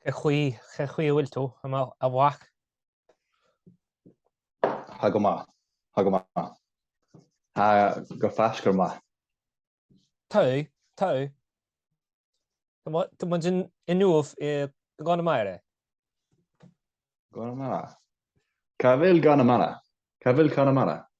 Cé chaoi, cé chaoi a bhfuil tú, a mhac? Tá go maith, tá go maith. Tá go fáscra maith. Tá, tá. Tá muid inniu i gConamara. Conamara? Cá bhfuil Conamara? Cá bhfuil Conamara?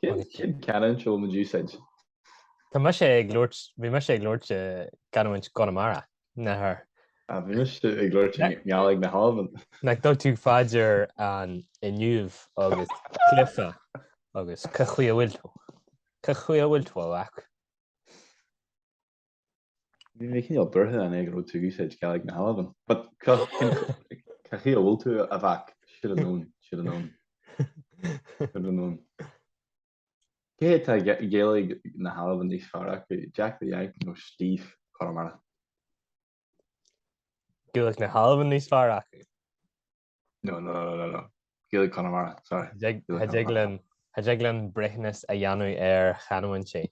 Cén chanúint seo ag úsáid? Tá mise ag labhairt, bhí mise ag labhairt i gcanúint Chonamara, nach raibh. Ah, bhí mise ag labhairt i nGaidhlig na hAlban. Nach dtug tú fá dear an inniu agus cluife agus cén chaoi a bhfuil tú? Cén chaoi a bhfuil tú, a mhac? Bhí mé cineál buartha ansin go raibh tú ag úsáid Gaeilge na hAlban. But cén chaoi a bhfuil tú a mhac? Should've known, should've known, should've known. Cé hé atá Gaeilge na hAlban níos fearr acu, Jack the Yank nó Steve Connemara? Gaeilge na hAlban níos fearr acu. No, no, no, no, no. Gaeilge Conamara, sorry. Cha dtig linn, cha dtig linn breithiúnas a dhéanamh ar chanúintí.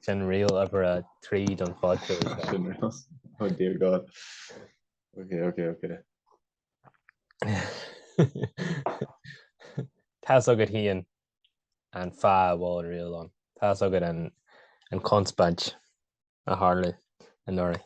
Sin riail uimhir a trí don phodchraoladh seo. Sin ríl. Oh dear God. Ok, ok, ok. Tá's agat fhéin an fáth a bhfuil an riail ann. Tá's agat an conspáid a tharlaigh anuraidh.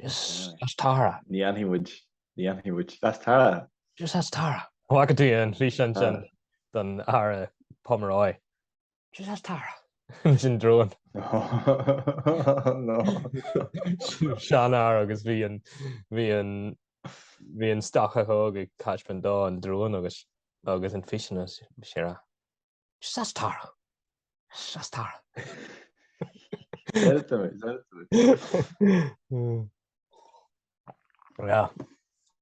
Jeez that's Tara. Ní fhanfaidh muid, ní fhanfaidh muid. That's Tara. Jeez that's Tara. Bhfaca tú an físeán sin den fhear ó Pomeroy? Jeez that's Tara. Leis an drón. Seanfhear agus bhí an, bhí an, bhí an stócach óg ag taispeáint dó an drón agus, agus an físeán, is é a. That's Tara. That's Tara.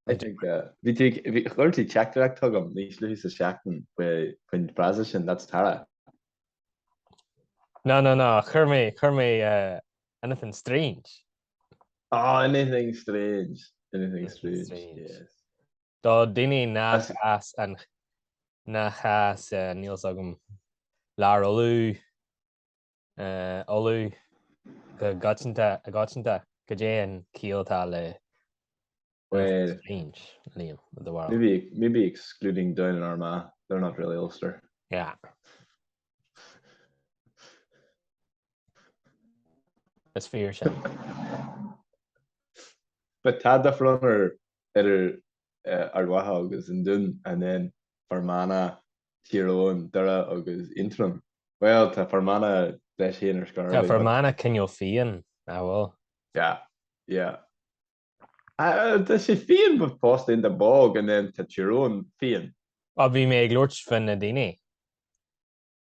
I think chuir tú teachtaireacht chugam níos luaithe sa tseachtain faoin bhfrása sin, that's Tara. No, no, no, chuir mé, chuir mé anything strange. Á, anything strange, anything strange, yes. Do dhaoine nach as nach as, níl fhios agam, Lár Uladh, Ulaidh go coitianta, cad é an ciall atá le strange, Liam, i do bharúil? Maybe excluding Down and Armagh, they're not really Ulster. Yeah. Is fíor sin. But tá difear ann ar idir Ard Mhacha agus an Dún, and then Fear Manach, Tír Eoghain, Doire agus Aontroim. Bhuel, tá Fear Manach leis féin ar scor, Tá Fear Manach cineál fiáin, nach bhfuil? Yeah, yeah. Tá sé fiáin but fosta in the bog and then tá Tír Eoghain fiáin. Bhí mé ag labhairt faoi na daoine.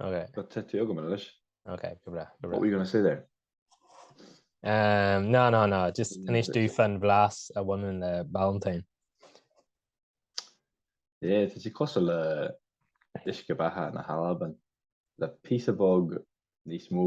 Okay. But abair linn anois. Okay, go breá. Go breá. What were you going to say there? Um, no, no, no, just inis dúinn fán bhlas a bhain leis an Ballantine. Yeah, tá sé cosúil le uisce beatha na hAlban le píosa beag níos mó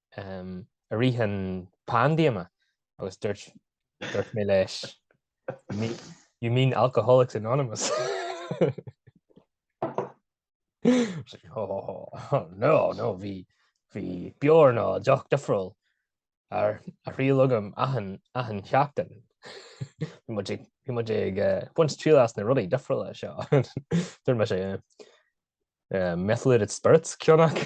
i rith na paindéime agus dúirt dúirt mé leis You mean Alcoholics Anonymous? No, no, bhí bhí beoir nó deoch difriúil ar a thriail agam achan achan seachtain. Bhí muid ag bhí muid ag baint triail as na rudaí difriúla seo. Dúirt mise methylated spirits ceann acu.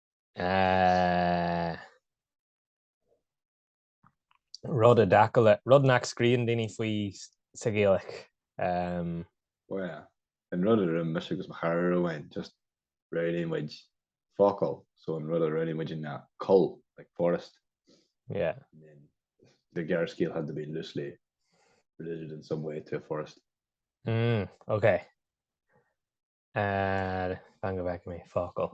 rud nach scríobhann daoine faoi sa Ghaeilge. Bhuel, an rud a rinne mise agus mo chara Rónán, just roghnaigh muid focal, so an rud a roghnaigh muid ná coill, like forest. Yeah. And then the gearrscéal had to be loosely related in some way to a forest. Mm, ok. fan go bhfeice mé focal.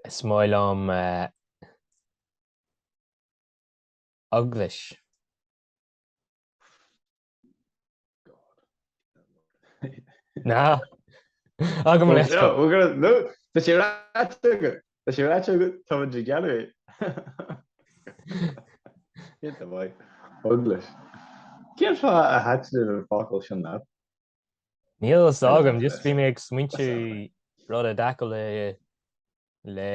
Is maith liom eaglais. Ná Tá sé ráite go Tá sé ráite agat tá muid ag gearradh é. Ceart go maith. Eaglais. Cén fáth a thaitníonn an focal sin leat? Níl a fhios agam, just bhí mé ag smaointiú rud i dtaca le le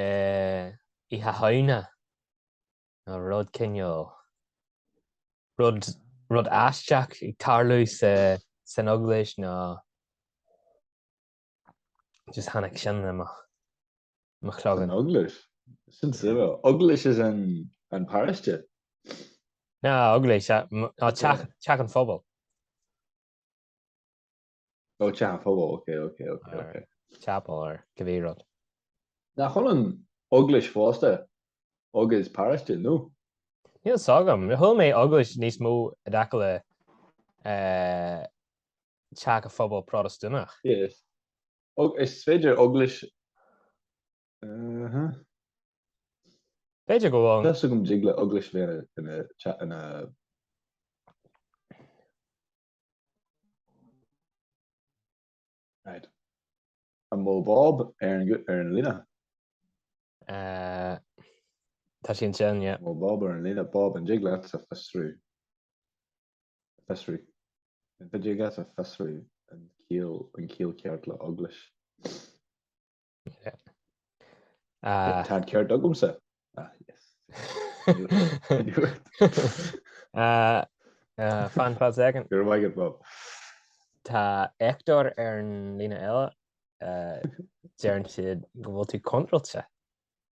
Oíche Shamhna nó rud cineál, rud rud aisteach ag tarlú sa san Eaglais nó. just tháinig sin i mo chloigeann. Eaglais? Sin suíomh. Eaglais as in paróiste? Ná, Eaglais, ná Teach an Phobail. Ó, Teach an Phobail, ok, ok, ok, ok. Chapel or cibé rud. Nach bhfuil an Eaglais fosta agus paróiste, nó? Níl fhios agam. Chuala mé Eaglais níos mó i dtaca le teach an phobail Protastúnach. Is féidir Eaglais Bhéarla. B'fhéidir go bhfuil. An dtig le Eaglais Bhéarla ina. Right. An bhfuil Bob ar an ar an líne. Tá sí an sin, yeah. Mó Bob ar an líne, Bob an dtig leatsa fiosrú. a fiosrú. An dtig leatsa fiosrú an ciall, an ciall ceart le Eaglais. Ah. Tá ceart agamsa. Ah, yes. Ah, ah, fan go second. You'll like it, Bob. Tá Hector ar an líne eile. Uh, deireann siad go bhfuil tú contráilte.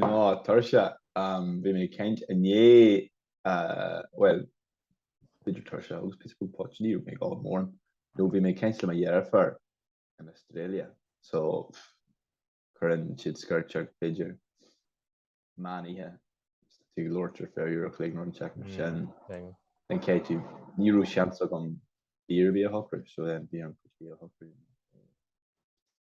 No tuirse, bhí mé ag caint inné, bhuel, b'fhéidir tuirse agus píosa beag poitín, ní raibh mé ag ól mórán, nó bhí mé ag caint le mo dheirfiúr in Australia, so, cuireann sise scairteach b'fhéidir meán oíche, ag labhairt ar feadh uair a chloig nó rud inteacht, mar sin, an cheist, ní raibh seans agam í a shocrú, so then bhí an poitín a shocrú.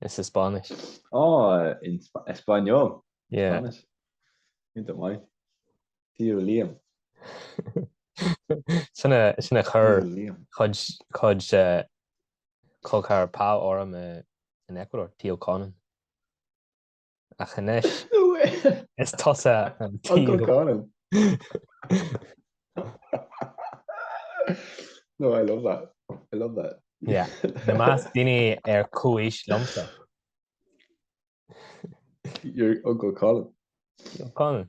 Is i Spáinnis. Á, in Español. Yeah. Spáinnis. Iontach maith. Tír Liam. Sin a, sin a chuir Tío Liam. cuid, cuid eh, tugtar fá orm eh, in Ecuador, Tío Conan. ach anois is tusa an t-aon No, I love that. I love that. Yeah. I measc daoine ar chomhaois liomsa. Your Uncle Conan. Conan.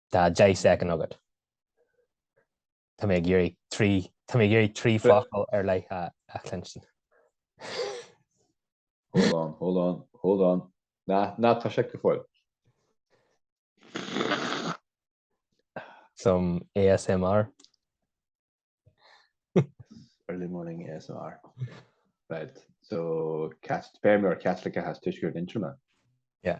Tá deich soicind agat. Tá mé ag iarraidh trí, tá mé ag iarraidh trí focal ar leith a chluinstin. Hold on, hold on, hold on. Ná, ná tosaigh go fóill. Some ASMR. Early morning ASMR. Right, so, cast, feirmeoir Caitliceach as Tuaisceart Aontroma. Yeah.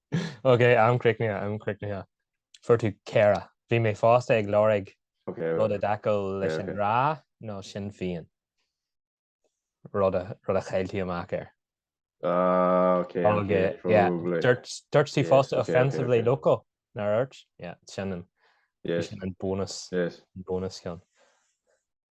Ok, am críochnaithe, am críochnaithe. Fuair tú ceithre. Bhí mé fosta ag lorg rud i dtaca leis an 'RA nó Sinn Féin. Rud a, rud a chaill tú amach air. Ah, ok, ok, probably. Dúirt tú fosta offensively local, nár dúirt? Yeah, sin an, sin an bonus, bonus ceann.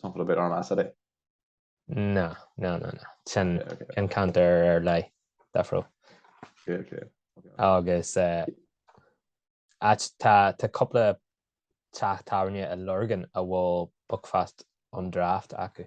sampla beidh orm as ar é. Ná, ná, ná, ná. Sin an ceantar ar leith, Defro. Clear, clear. Agus tá cúpla teach tábhairne i Lurgan a bhfuil Buckfast on Draft acu.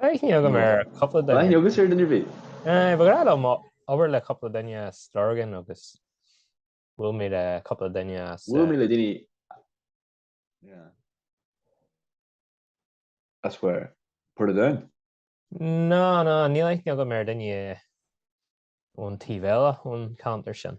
Aithne agam ar cúpla duine. Aithne agam ar duine bhí. Eh, ba ghnáth liom obair le cúpla duine as Lurgan agus bhuail mé le cupla duine as. Bhuail mé le duine yeah. As where? Portadown? Ná, ná, níl aithne agam ar duine ón taobh eile ón cheantar sin.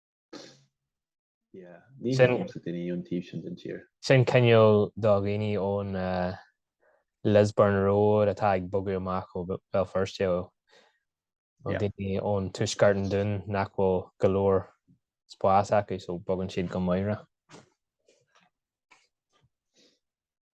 Sin cineál do dhaoine ón Lisburn Road atá ag bogadh amach ó Bhéal Feirste, nó daoine ó thuaisceart an Dúin nach bhfuil go leor spáis acu so bogann siad go Moira.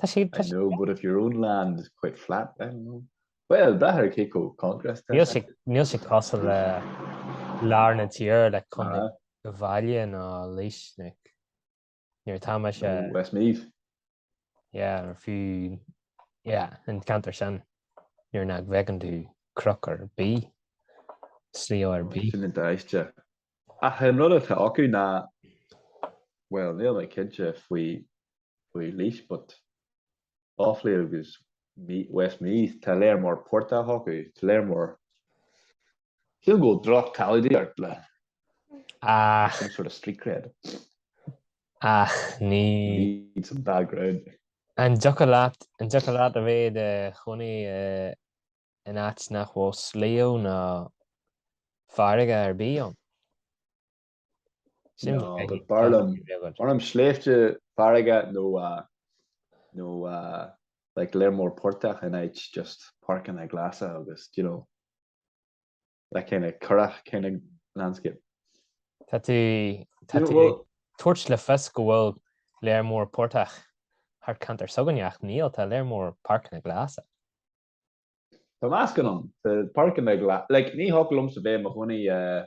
Tá sí, tá I sí. know, but if your own land is quite flat, I don't know. Bhuel, braitheann cé chomh contrast é. Níl sí, níl sí cosúil le lár na tíre, le Contae Ah. Uíbh Fhailí ná Laois, like, nuair atá sé, Nó Westmeath. yeah, nó fiú, yeah, an ceantar sin, nuair nach bhfeiceann tú cnoc ar bith, sliabh ar bith. Sin aisteach. Ach an rud atá acu ná, bhuel, níl mé cinnte faoi faoi Laois but Offaly agus Westmeath, tá lear mór portach acu, tá lear mór, ciall go bhfuil droch-quality ort le some sort of street cred. Ach ní. need some background. An dtiocfadh leat, an dtiocfadh leat a bheith i do chónaí in áit nach bhfuil sliabh ná farraige ar bith ann? Sin No, but b'fhearr liom, b'fhearr liom sléibhte farraige nó uh, nó uh, like lear mór portach in áit just páirceanna glasa agus, do you know, that kind of currach kind of landscape. Tá tú, tá Yeah, tú well, ag tabhairt le fios go bhfuil lear mór portach thart ceantar s'againne ach níl, tá lear mór páirceanna glasa. tá meascán, tá páirceanna glasa, like ní thiocfadh liomsa bheith i mo chónaí uh,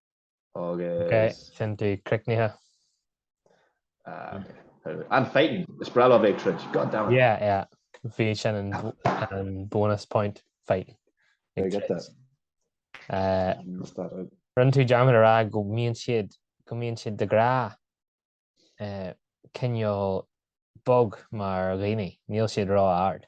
Agus. Ok, sin tú críochnaithe. And fighting. Is breá liom é ag troid. God damn it. Yeah, yeah. Bhí sin an an bonus point fighting. Ag Get troid. that. Eh, Miss that out. Rinne tú dearmad a rá go mbíonn siad go mbíonn siad de ghnáth eh, cineál bog mar dhaoine. Níl siad ró-ard.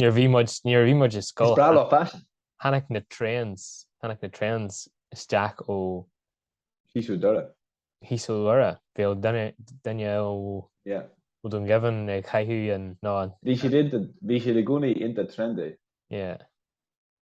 Nuair a bhí muid, nuair a bhí muid i scoil. Is breá leo faisin. Tháinig na trends, tháinig na trends isteach ó. Thíos ó Dhoire. Thíos ó Dhoire. Bhuel duine, duine ó. Yeah. Ó Dún Geimhin ag caitheamh an, ná an. Bhí siad ag, bhí siad i gcónaí iontach trendy. Yeah.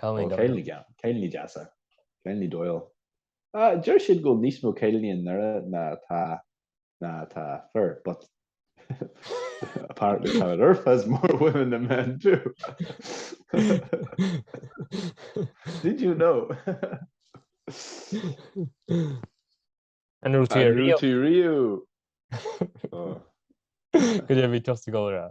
Cailíní dóighiúla. Cailíní deasa. Cailíní dóighiúla. Deir siad go bhfuil níos mó cailíní i nDoire ná atá fir, but apparently Planet Earth has more women than men too. Did you know? An raibh tú riamh tú riamh. Cad é bhí tosta ggóra.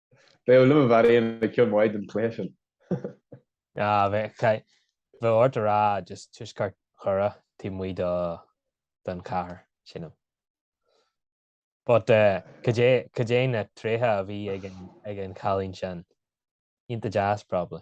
Beidh ó liom a bheith aon ag ceol maith don chluiche sin. Ah, bheadh, caith, bheadh ort a rá just Tuaisceart Dhoire, taobh amuigh do, don chathair sin ann. But eh, cad é, cad é na tréithe a bhí ag an, ag an chailín sin? Iontach deas, probably.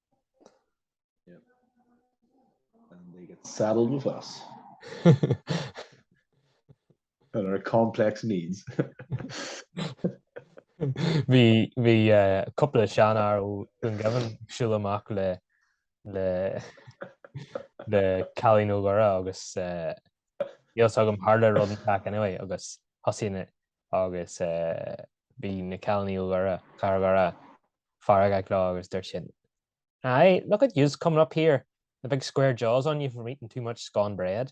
And they get saddled with us. and our complex needs. Bhí bhí eh, cúpla seanfhear ó Dún Geimhin ag siúl amach le le le cailíní ó Dhoire agus eh, níl a fhios agam tharla rud inteacht anyway agus thosaigh na agus bhí na cailíní ó Dhoire, Cathair Dhoire, feargach leo agus dúirt siad Aye, look at yous coming up here, the big square jaws on you from eating too much scone bread.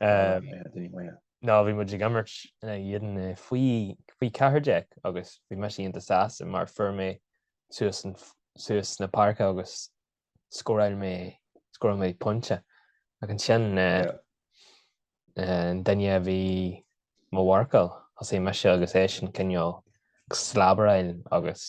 No, bhí muid ag imirt in éadan faoi faoi ceathair déag agus bhí mise iontach sásta mar fuair mé suas suas na páirce agus scóráil mé scóráil mé pointe ach ansin eh, eh, an duine a bhí mo mharcáil thosaigh mise agus eisean cineál slabaráil agus